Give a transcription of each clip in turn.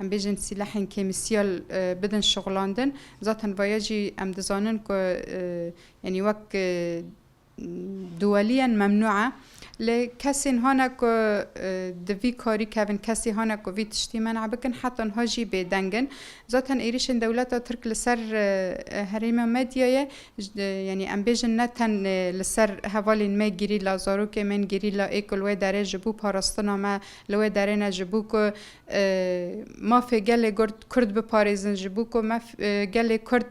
Em bêjin sîlehên kêmîsyal bidin şixulandin. Zaten vaya jî em dizanin ku yanî wek duwelî in memnû e. Lê kesên hane ku di vî karî kevin, kesî hane ku vî tiştî men'a bikin heta niha jî bêdeng in. Zaten êrîşên dewleta Tirk li ser herêma medyayê yanî em bêjin ne tenê li ser hevalên me gerîla, zarokên me ên gerîla ê ku li wê derê ji bo parastina me li wê derê ne ji bo ku Mafê gelê Kurd biparêzin ji bo ku gelê Kurd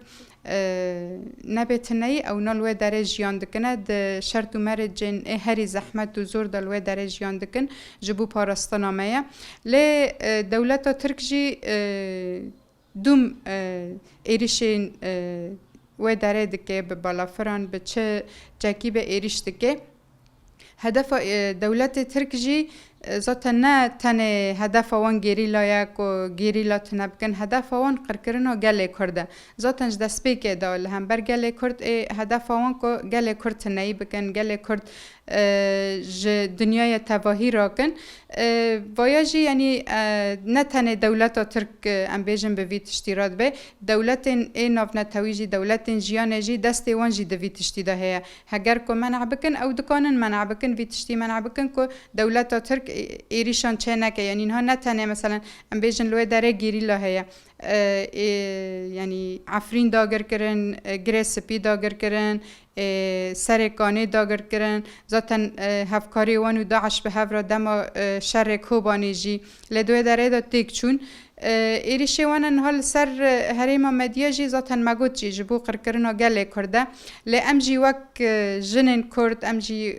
nebe tineyî ewna li wê derê jiyan dikine di şert û merecên ê herî zehmet û zor de li wê derê jiyan dikin ji bo parastina me ye. Lê dewleta Tirk jî Dûm êrişên wê derê dike, bi balafiran bi çi çekî be êrîş dike. Hedefa dewletê Tirk jî zaten ne tenê hedefa wan gerîla ye ku gerîla tune bikin, hedefa wan qirkirina gelê Kurd e. Zaten ji destpêkê de li hember gelê Kurd ê hedefa wan ku gelê Kurd tuneyî bikin, gelê Kurd ji dinyaya tevahî rakin. Vaya jî yanî ne tenê dewleta Tirk em bêjin bi vî tiştî re dibe, dewletên ê navnetewî jî, dewletên jiyanê jî destê wan jî di vî tiştî de heye. Heger ku men'a bikin ew dikanin men'a bikin vî tiştî men'a bikin ku dewleta Tirk êrîşan çê neke. Yanî niha ne tenê meselen em bêjin li wê derê gerîla heye. Ê yanî Efrîn dagir kirin, Girê Spî dagir kirin, Serê Kanê dagir kirin. Zaten hevkariyê wan û DAIŞ bi hev re dema şerê Kobanê jî li dwê derê de têk çûn. Êrîşê wan a niha li ser herêma me diya jî zaten me got jî ji bo qirkirina gelê Kurd e. Lê em jî wek jinên Kurd, em jî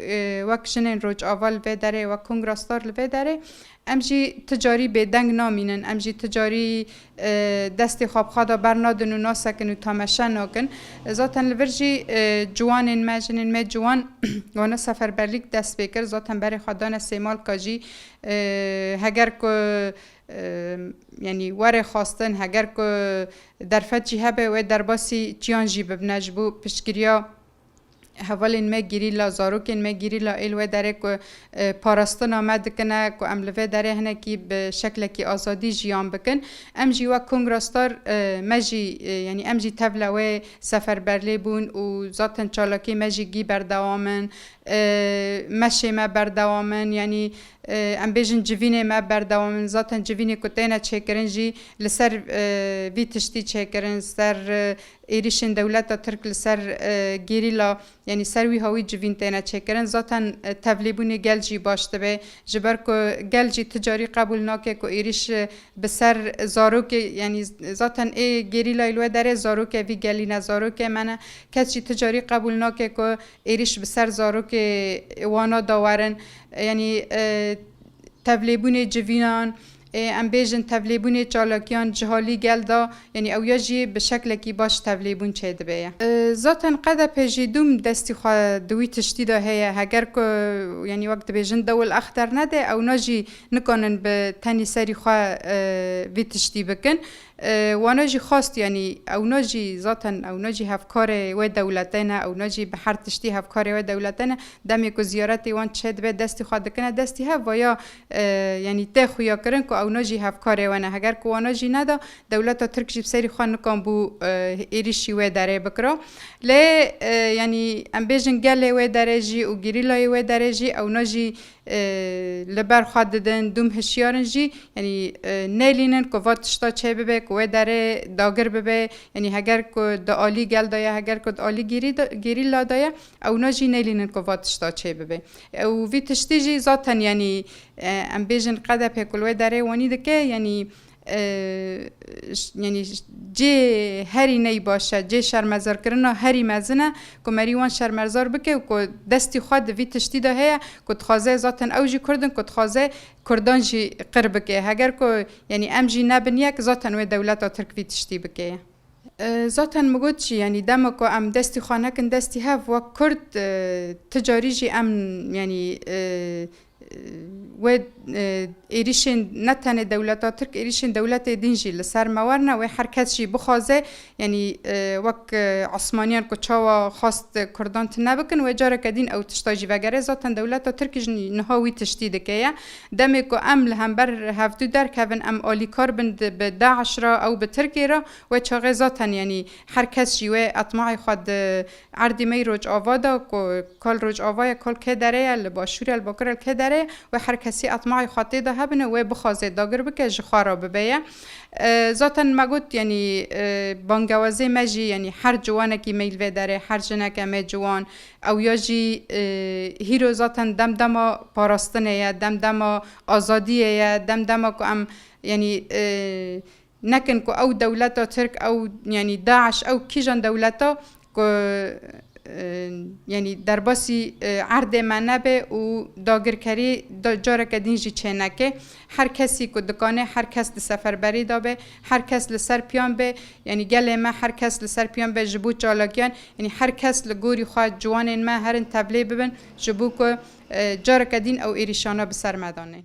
wek jinên Rojava li vê derê, wek kongrasdar li vê derê Em jî ti carî bêdeng namînin, em jî ti carî destê xwe bi xwe de bernadin û nasekin û tameşe nakin. Zaten li vir jî ciwanên me, jinên me ciwan wana seferberlîk dest pê kir. Zaten berê xwe dane Sêmalka jî. Heger ku yanî were xwestin, heger ku derfet jî hebe wê derbasî çiyan jî bibine ji bo piştgiriya. Hevalên me gerîla, zarokên me gerîla ê li wê derê ku parastina me dikin e ku em li vê derê hinekî bi şeklekî azadî jiyan bikin. Em jî wek Kongra Star me jî yanî em jî tevla wê seferberlê bûn û zaten çalakiyên me jî gî berdewam in. Meşê me berdewam in yanî em bêjin civînê me berdewam in. Zaten civînê ku têne çêkirin jî li ser vî tiştî çêkirin, li ser Êrîşên dewleta Tirk li ser gerîla yanî ser wî hawî civîn têne çêkirin. Zaten tevlêbûnê gel jî baş dibe. Ji ber ku gel jî ti carî qebûl nake ku êrîş bi ser zarokê yanî zaten ê gerîlayê li we derê zaroke vî gelî ne zarokê me ne. Kes jî ti carî qebûl nake ku êrîş bi ser zarokê wana da werin. Yanî tevlêbûnê civînan. Em bêjin tevlêbûnê çalakiyan jihalî gel da yanî ew ya jî bi şeklekî baş tevlêbûn çêdibe ye. Zaten qedepê jî dûm destî xwe di wî tiştî da heye. Heger ku yanî wek dibêjin dewil ex dernede ewna jî nikanin bi tenî serî xwe vî tiştî bikin. Wana jî xwast yanî ewna jî zaten ewna jî hevkarê wê dewlete ne ewna jî bi her tiştî hevkarê wê dewlete ne. Demê ku ziyaretê wan çêdibe destî xwe dikine destî hev vaya Yanî tê xuya kirin ku ewna jî hevkarê we ne. Heger ku wana jî neda, dewleta Tirk jî bi serî xwe nikanbû êrîşî wê derê bikira. Lê yanî em bêjin gelê wê derê jî û gerîlayê wê derê jî ewna jî li ber xwe didin, dûm hişyar in jî. Yanî nêlînin ku va tişta çê bibe ku wê derê dagir bibe. Yanî heger ku di alî gel de ye, heger ku di alî gerîla de ye, Ewna jî nelînin ku va tişta çê bibe. Û vî tiştî jî zaten yanî em bêjin qedepê ku li wê derê wenî dike yanî yanî cê herî ney baş e, cê şermezarkirina herî mezin e ku merî wan şermerzar bike û ku destî xwe di vî tiştî de heye ku dixwaze zaten ew jî kurd in ku dixwaze kurdan jî qir bike. Heger ku yanî em jî nebin yek zaten wê dewleta tirk vî tiştî bike ye. Zaten min got jî yanî dema ku em destî xwe nekin destî hev wek kurd ti carî jî em yanî wê êrîşên ne tenê dewleta tirk êrîşên dewletê din jî li ser me werne wê her kes jî bixwaze yanî wek esmaniyan ku çawa xwest kurdan tune bikin wê careke din ew tişta jî vegere zaten dewleta tirk jî niha wî tiştî dike ye Demê ku em li hember hevdu derkevin em alîkar bin bi DAIŞ re ew bi Tirkê re we çaxê zaten yanî her kes jî wê etmaê xwe di erdî mey Rojava de ku kal Rojava ye kal kê dere ye li başûr ye li bakur ye li kê dere ye wê her kesî etmaê xwe tê de hebin û wê bixwaze dagir bike ji xwe re bibe ye zaten me got yanî bangewazê me jî yanî her ciwanekî mey li vê derê her jineke mê ciwan Ew ya jî hîro zaten dem dema parastinê ye, dem dema azadiyê ye, dem dema ku em yanî nekin ku ew dewleta Tirk, ew yanî DAIŞ, ew kîjan dewleta ku yanî derbasî erdê me nebe û dagirkerî careke din jî çêneke. Her kesî ku dikanê her kes di seferberî de be, her kes li ser piyan be, yanî gelê me her kes li ser piyan be ji bo çalakiyan, yanî her kes li gorî xwe ciwanên me herin tevlê bibin ji bo ku careke dîn ew êrîşana bi ser me danên.